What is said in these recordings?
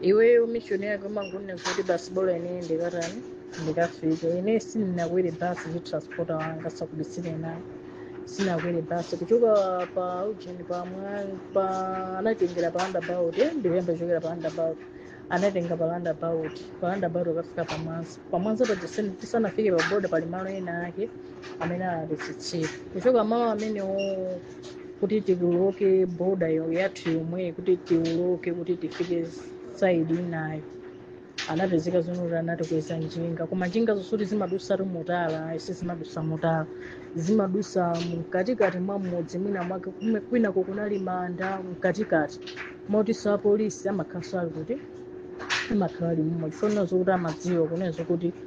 iweyo mishoni yako umangonena kuti basi bora ine ndikatani ndikafike ine sindinakwere basi ndi transporter wanga ndisakubisireni ayi sinakwere basi kuchoka pa ujeni pa mwa- pa anatengera pa roundabout eh, ndiyambe kuchokera pa roundabout anatenga pa roundabout pa roundabout akafika pa mwanza pa mwanza pa tisana- tisanafike pa boda pali malo enaake amene anatitsitsira kuchoka malo amene kuti tiwoloke boda yathu yomweyi kuti tiwoloke kuti tifike side inayo zinapezeka zonoti anatikweza njinga koma njinga zosoti zimadutsa mu tala ayi sizimadutsa mu tala zimadutsa mkatikati mwa mudzi mwina mwake kume- kwinako kunali manda mkatikati motinso apolisi amakhalanso ali kuti amakhala alimomo chifukwa zokuti amadziwa kunenso kuti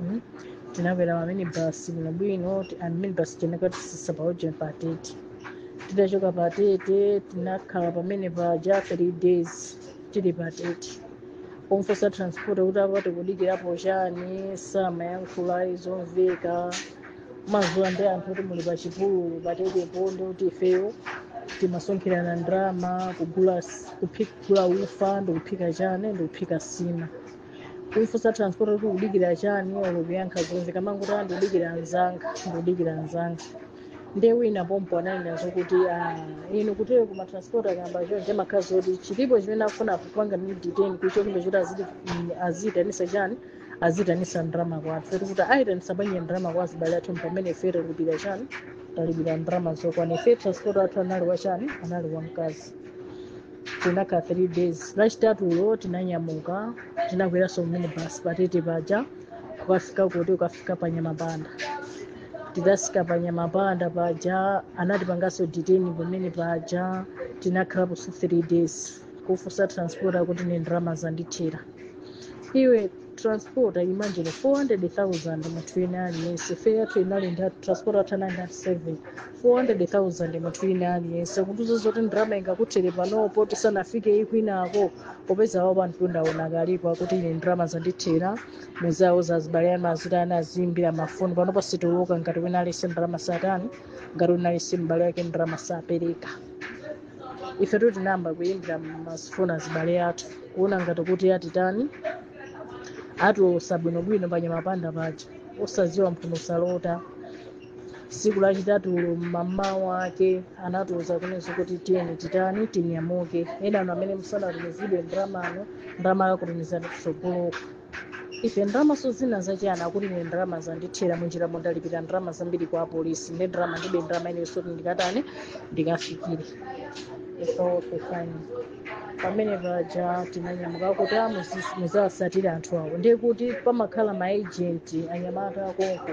Mm. tinakwera maminibasi bwinobwino ti- and minibasi inakatitsitsa pa ujeni pa tete titachoka pa tete tinakhala pamene paja three days tili pa tete kumufunsa transporter kuti apa tikudikirapo chani samayankhula zomveka mumadziwa ndi anthu kuti muli pa chipululu pa tetepo ndi kuti ifeyo timasonkhirana ndalama kugula s- kuphi- kugula ufa ndikuphika chani ndikuphika nsima kumufunsa transporter kuti ukudikira chani olo kuyankha zomveka amangoti ah ndikudikira anzanga ndikudikira anzanga nde wina pompo ananenanso kuti ah, inutu eti ma transporter akayamba chonchi zimakhala zoti chilipo chimene akufuna kupanga ndi detain kuchokinda choti aziti mm, aziitanisa chani aziitanisa ndrama kwathu kuti kuti aitanisa banja ndrama kwa azibale athu pamene ife talipira chani talipira ndrama zokwana ife transporter wathu anali wa chani anali wamkazi tinakhala 3 days lachitatulo tinanyamuka tinakweranso minibasi pa tete paja kukafika kuti ukafika pa nyamapanda tidafika pa nyamapanda paja anatipanganso detain pamene paja tinakhalapo 3 days kufunsa transporter akuti ine ndalama zandithera iwe transporter wamangira 400000 munthu wina aliyense fe yathu inali ndi transporter wathu anali ndi 7 400,000 munthu wina aliyense kutiuza zoti ndalama ingakuthere panopo tisanafike kwinako popeza awo pamtunda ukadalipo akuti ine ndalama zandithera muziwauza azibale amadzi- tayamba aziimbira mafoni panopo sitiwoloka ngati wina aliyense ndalama sanatani ngati wina aliyense m'bale wake ndalama sanapereke ifetu tinayamba kuyimbira mafoni azibale athu kuona ngati kuti atitani atiwolotsa bwinobwino pa nyamapanda paja osadziwa mphuno salota tsiku lachitatulo mmamawa ake anatiuza kunena kuti tiyeni titani tinyamuke enanu amene simunatumizidwe ndramano ndrama akakutumizirani kutsogoloko ife ndramanso zina zachiyani akuti ine ndrama zandithera munjira momo ndalipira ndrama zambiri kwa apolisi ndi ndrama ndibe ndrama inenso kuti ndikatani ndikafikire ife okay fine pamene paja tinanyamuka kuti amusisi muzawasatira anthu awo ndiye kuti pamakhala maejenti anyamata akonko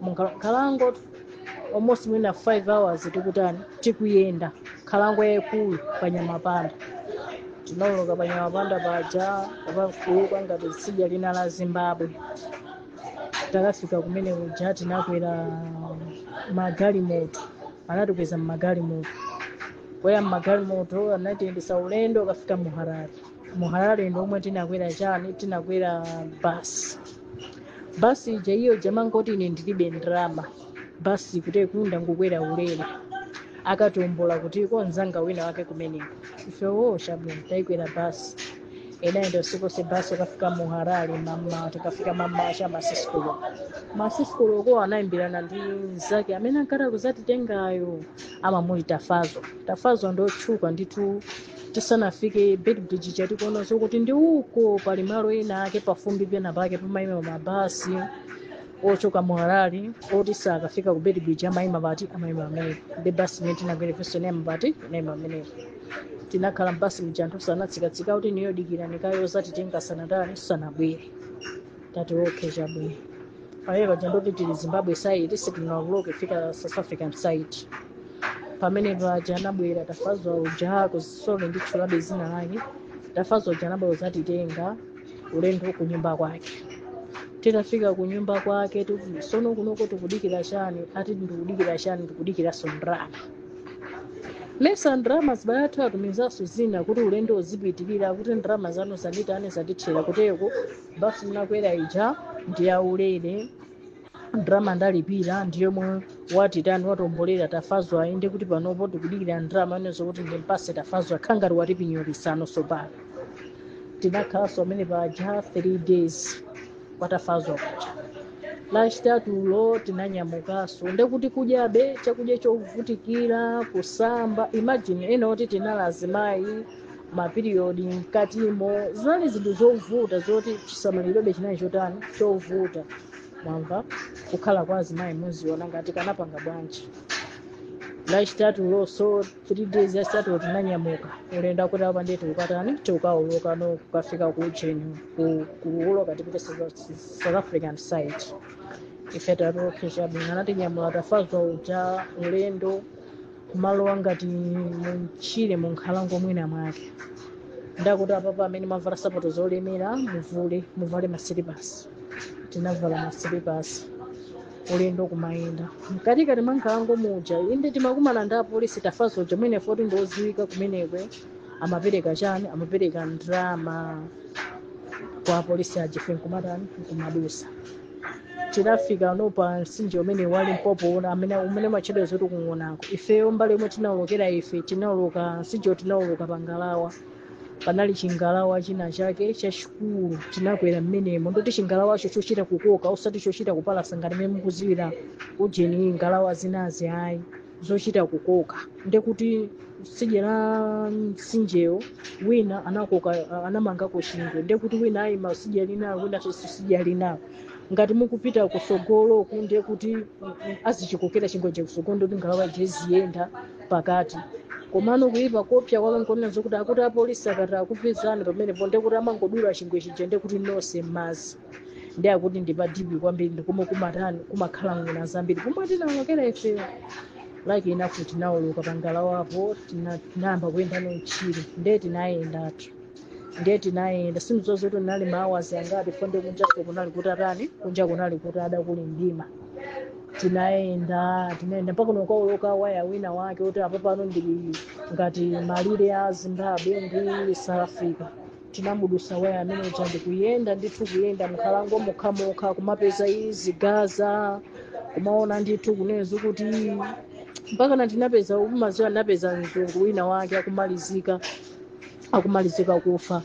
munkhalango almost mwina 5 hours tikutani tikuyenda nkhalango yayikulu pa nyamapanda tinawoloka pa nyamapanda paja kupita ngati tsidya lina la zimbabwe takafika kumene kuja tinakwera magalimoto anatikweza mmagalimoto kwera mmagalimoto anatiyendetsa ulendo wokafika mu harare muharare ndi komwe tinakwera chani tinakwera basi basi ija iyo ija amangoti ine ndilibe ndalama basi kuti kunali kungokwera ulere akatiwombola kutiko nzanga wina wake kumeneko ifeyo chabwino tinakwera basi inayenda usiku onse basi kukafika muharare mama tikafika mama cha masisikulo masisikulo ko anaimbirana ndi mzake amene ankati azatitengayo amamuti tafadzwa tafadzwa ndi otchuka ndithu tisanafike beitbridge cha tikuona zokuti ndi uko pali malo ena ake pafumbi pena pake pamaima mabasi ochoka mu harare oti sakafika ku beitbridge amaima pati amaima pamenepo ndi basi imene tinakwera ifenso inaima pati inaima pamenepo tinakhala mbasi muja anthu ena natsikatsika kuti inuyo dikirani kaye ozatitenga sanatani sanabwere tati okay chabwino pamene paja ndoti tili zimbabwe side sitinawoloke kufika south african side pamene paja anabwera tafadzwa uja kuzisoke nditchulabe dzina lake tafadzwa uja anabwera kuzatitenga ulendo ku nyumba kwake titafika ku nyumba kwake tikuti sono kunoko tikudikira chani ati ndikudikira chani ndikudikiranso ndrama mesa ndrama azibale athu atumizanso zina kuti ulendo uzipitirira kuti ndrama zanu zanditani zandithera kuteroko basi munakwera ija ndi yaulere ndrama ndalipira ndi yomwe watitani watiwombolera tafadzwa ayi nde kuti panopo tikudikira ndrama inenso kuti ndimpatse tafadzwa zikukhala ngati watipinyolitsano sopano tinakhalanso pamene paja 3 days kwa tafadzwa paja lachitatulo tinanyamukanso ndekuti kudyabe chakudya chovutikira kusamba imagine ena oti tinali azimayi mapiriyodi mkatimo zinali zinthu zovuta zoti chisamalirobe chinali chotani chovuta mwamva kukhala kwa azimayi muziona ngati kanapanga bwanji lachitatulo so 3 days yachitatu tinanyamuka ulendo kuti apa ndiye tikukatani tikukawoloka no kukafika ku ujeni ku- kuwoloka tipite South- south african side ife tatokesha bwino anatinyamula tafazwa uja ulendo kumalowa ngati mumchire munkhalango mwina mwake ndakuti apapa amene mwavala sapato zolemera muvule muvale masilipasi tinavala masilipasi ulendo kumayenda mkatikati mwa nkhalango muja inde timakumana ndi apolisi Tafazwa uja mwene poti ndi odziwika kumenekwe amapereka chani amapereka ndrama kwa apolisi aja ife nkumatani nkumadusa tinafika no pa msinje umene wa Limpopo uja amene umene umatchedwa zoti kung'onako ifeyo mbali yomwe tinaolokera ife tinaoloka msinjewo tinaoloka pangalawa panali chingalawa china chake chachikulu tinakwera mmenemo ndoti chingalawacho chochita kukoka osati chochita kupalasa ngati mmene mukudziwira ujeni ngalawa zinazi ayi zochita kukoka ndekuti sidya la mtsinjewo wina anakoka anamangako chingwe ndekuti wina ayima sidya linalo wina sidya linalo ngati mukupita kusogolo kunde kuti azichikokera chingwe chakusogolo ndoti ngalawa ija iziyenda pakati komano kuipa koopsa kwake nkuona zokuti akuti apolisi akati akupezani pamenepo ndekuti amangodula chingwe chija ndekuti nonse mmazi ndi akuti ndi pa deep kwambiri ndikomwe kumatani kumakhala ng'ona zambiri pomwe tinawolokera ifeyo lucky enough tinawoloka pangalawa apo tina- tinayamba kuyenda mutchire ndiye tinayendatu ndiye tinayenda sindidziwa kuti anali maawazi angapi poti nde kunjaso kunali kutatani kunja kunali kuti kudakali mdima tinayenda tinayenda mpaka no kukawoloka waya wina wake kuti apa pano ndiye ngati malire a zimbabwe ndi south africa tinamudusa waya amene uja ndikuyenda ndithu kuyenda mkhalango mokhamokha kumapeza zigaza kumaona ndithu kuona zokuti mpaka na tinapeza umaziwa napeza mzungu wina wake akumalizika akumalizika kufa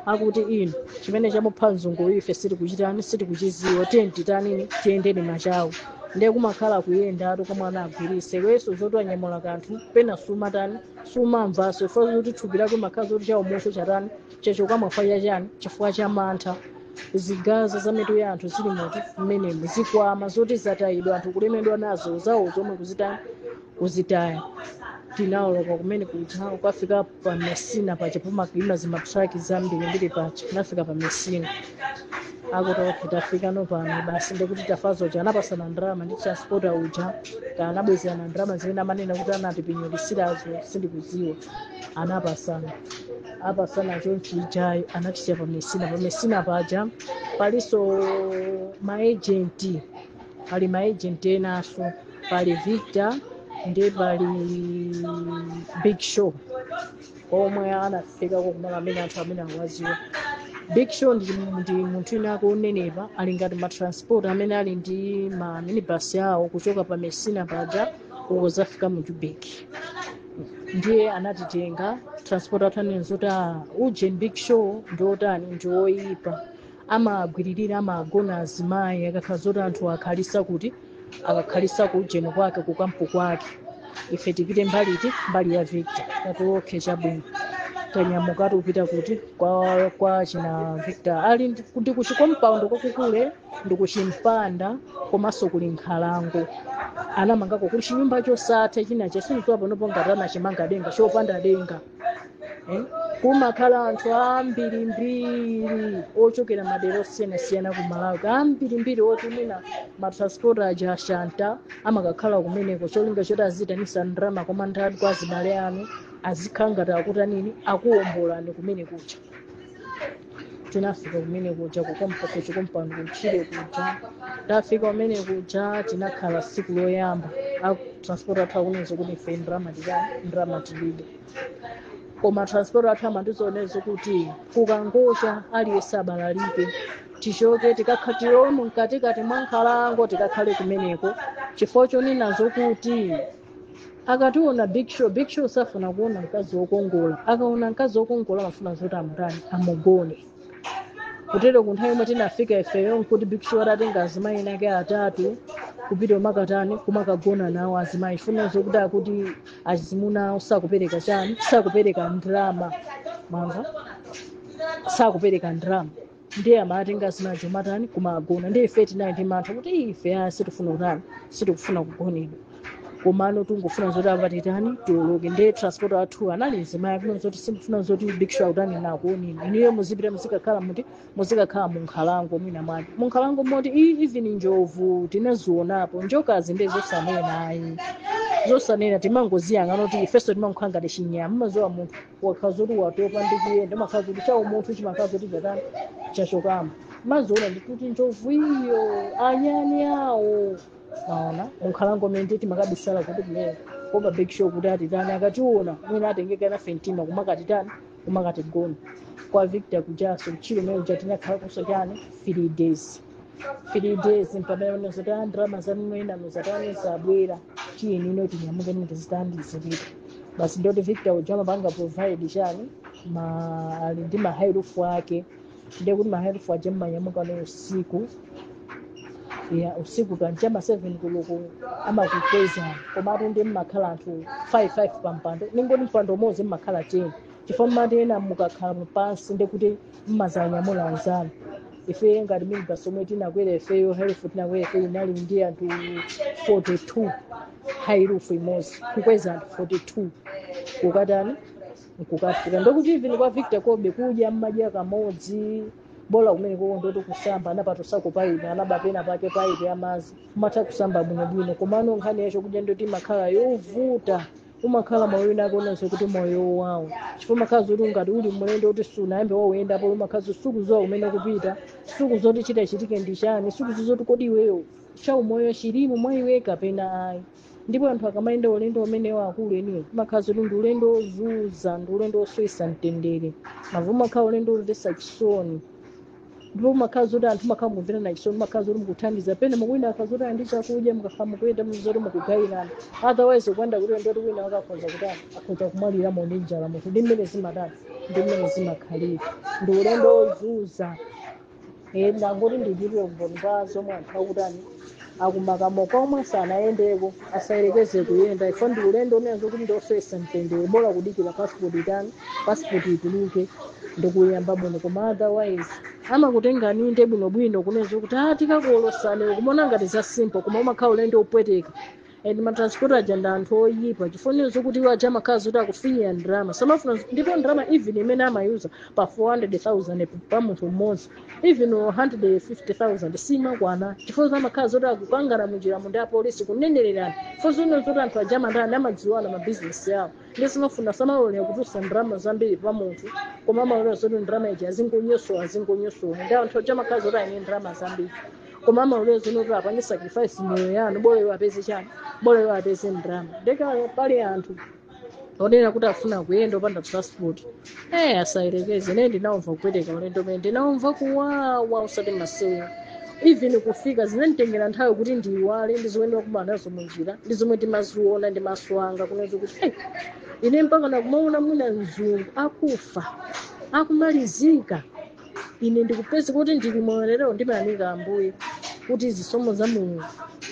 akuti no chimene chamupha mzungu ife sitikuchitani sitikuchiziwa tiyeni titanini tiyendeni machawo ndiye kumakhala kuyenda ati kamwana agwiritse iweso zoti wanyamula kanthu pena sumatani sumamvaso ifa zoti thupi lako makhala zoti chaumoyo chatani chachoka mwa chani chifukwa cha mantha zigaza za mitu ya anthu zili mbwee mmenemo zikwama zoti zatayidwa anthu kulemedwa nazo zawo zomwe kuzitaya kuzitaya tinaoloka kumene kuja ukafika pa messina paja pamakaima zimatraki zambirimbiri paja nafika pa messina akuti okay tafika no pano basi ndikuti tafazo uja anapasana ndrama ndi transporta uja anabwezerana ndrama zimene amanena kuti anatipinyolisilazo sindikuziwa anapasana apasana chonchi ujayo anatisiya pa messina pa messina paja palinso maejenti pali maejenti enanso pali victor ndi pali big show omwe anafikako kumalo amene anthu amene akuwaziwa big show ndi, ndi munthu inake onenepa ali ngati matransport amene ali ndi ma minibus awo kuchoka pa messina paja kuzafika mu joburg ndiye anatitenga transport athu anena zoti "Ah, ujeni big show ndi otani ndi oyipa amagwiririra amagona azimayi akakhala zoti anthu akhalisa kuti akakhalisa ku ujeni kwake ku kampu kwake ife tipite mbali iti mbali ya victor tati okay chabwino tanyamuka tikupita kuti kwa, kwa china victor ali ndi- ndi ku chikompaundi kwake kuli ndi ku chimpanda komanso kuli nkhalango anamangako kuli chinyumba chosatha chinachake sindiziwa panopo ngati anachimanga denga chopanda denga kumakhala anthu ambirimbiri ochokera madera osiyanasiyana ku malawi ambirimbiri oti mwina matransport aja ashanta amakakhala kumeneko cholinga choti aziitanisa ndrama koma ndati kwa azibale anu azikhala ngati akutanini akuwombolani kumene kuja tinafika kumene kuja kukompa ku chikompaundi kutchire kuja tafika kumene kuja tinakhala siku loyamba a transport athu akunena zokuti ife ndrama tilibe koma transport athu ayamba ndi zonena zokuti kukangocha aliyense abalalike tichoke tikakha- tilowe mkatikati mwa nkhalango tikakhale kumeneko chifukwa chonena zokuti akationa big show big show safuna kuona mkazi wokongola akaona mkazi wokongola amafuna zoti amutani amugone kutero ku nthawi yomwe tinafika ifeyo nkuti big show atatenga azimayi enake atatu kupita kumakatani kumakagona nawo azimayi chifukwa zokuti akuti azimuna awo sakupereka chani sakupereka ndrama mwamva sakupereka ndrama ndiye amatenga zinazo kumatani kumagona ndiye ife tinali ndi mantha kuti "Ii, ife ayi sitifuna kutani sitikufuna kugonedwa komano tingofuna zoti apa titani tioloke ndiye transport athu anali mzimayi akunena zoti simufuna zoti big show akutanini akuoneni inuyo muzipita muzikakhala muti muzikakhala munkhalango mwina mwake munkhalango moti "Ii, even njovu tinazionapo njokazi ndiye zosanena ayi zosanena timangoziyang'ana kuti ifeso timangokhala ngati chinyama mazowa munthu wakhala zoti watopa ndi kuyenda umakhala zoti cha umunthu chimakhala zoti chatani chachokamo mmaziona ndekuti njovu iyo anyani awo maona munkhalango mende timakabisala kuti kumeneko pa big show kuti atitani akationa mwina atengeka nafe mtima kumakatitani kumakatigona kwa victor kujaso mchile mene uja tinakhala kusachani three days three days mpamene amanena zoti a ndalama zanu enanu zatani zabwera tiyeni ino tinyamuke ujeni tizitani tizipita basi ndoti victor uja amapanga provide chani amakhala ali ndi mahairufu ake ndiye kuti mahairufu aja mmanyamuka ndi usiku ya usiku kancha ma 7 koloko amakukwezani komatu nde mmakhala anthu 55 pampando ningoti mpando umodzi mmakhala 10 chifukwa mmati ena mukakhala pansi ndekuti mmazanyamula anzanu ife ngati minibus omwe tinakwera ifeyo hairufu tinakwera ifeyo inali ndi anthu 42 hairufu imodzi kukweza anthu 42 kukatani nkukafika ndokuti even kwa victor kobe kudya mmadya kamodzi bola kumene ndoti kusamba anapatutsako paipi anaba pena pake paipi yamazi mmatha kusamba bwinobwino komano nkhani yachokudya ndoti imakhala yovuta umakhala moyo wina okonanso kuti moyo wako chifukwa umakhala zoti ngati uli mulendo oti sunayambe wauyendapo umakhala zoti sukuziwa kumene ukupita sukuziwa kuti chitachitike ndi chani sukuziwa zoti kodi iweyo chaumoyo chilimo mwa iwe kapena ayi ndipo anthu akamayenda ulendo umenewo akuluakulu umakhala zoti ndi ulendo wozuza ndi ulendo wosowesa mtendere mavuto umakhala ulendo womvetsa chisoni ndipo mmakhala zoti anthu mmakhala mukumverana chisoni mmakhala zoti mukuthandizana pena poti wina akhala zoti ali ndi chakudya mukakhala mukuyenda zoti mukugayirana otherwise kunena kuti ndoti wina wake akhonza kuti akhonza kumwalira nayo njala munthu ndi mmene zimatani ndi mmene zimakhalira ndi ulendo wozuza Eh, ndangoti ndichitire umboni pa zomwe anthu akutani akumakomo omwe sanayendeko asayerekeze kuyenda ifa ndi ulendo kunena zoti ndiosowesa mtendere bola kudikira pasipoti itani pasipoti ituluke ndikuyenda bwino koma otherwise amakutengani nde bwinobwino kunena zoti tikakuolosani nkumaona ngati za simple koma umakhala ulendo opweteka and matransporter aja ndi anthu oyipa chifukwa zokuti iwo aja amakhala zoti akufinyira ndalama samafuna ndipo ndalama even imene amayuza pa 400000 pa munthu mmodzi even 150000 simakwana chifukwa amakhala zoti akupangana munjiramo ndi apolisi kunenererana chifukwa zoti anthu aja amatani amadziwana mabizinesi awo nde samafuna samalolera kutulusa ndalama zambiri pa munthu koma amalolera zoti ndalama ija azingonyosowa azingonyosowa ndi anthu aja amakhala zoti ali ndi ndalama zambiri koma amalolera zonena kuti apange sacrifice moyo yanu bora iwo apeze chani bora iwo apeze ndrama nde ngati pali anthu onena kuti afuna kuyenda popanda passport eh asayerekeze ine ndinaumva kupweteka ulendo umene ndinaumva kuwawa usati masewera even kufika zinanditengera nthawi kuti ndiyiwale ndi zomwe ndimakumana nazo munjira ndi zomwe ndimaziona ndi maso anga kunena zoti kuti hey, ine mpaka nakumaona mwina mnzanga akufa akumalizika ine ndikupeza kuti ndili moyo lero ndimayamika ambuye kuti zisomo za mulungu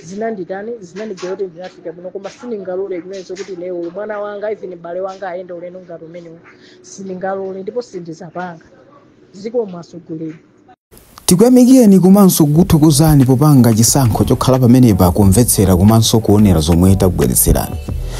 zinanditani zinandigwera kuti ndinafika bwino koma sindingalole kunena zoti lero uyu mwana wanga even bale wanga ayende ulendo ngati umenewo sindingalole ndipo sindizapanga zikomo atsogoleri tikuyamikireni komanso kukuthokozani popanga chisankho chokhala pamenepa kumvetsera komanso kuonera zomwe takubweretserani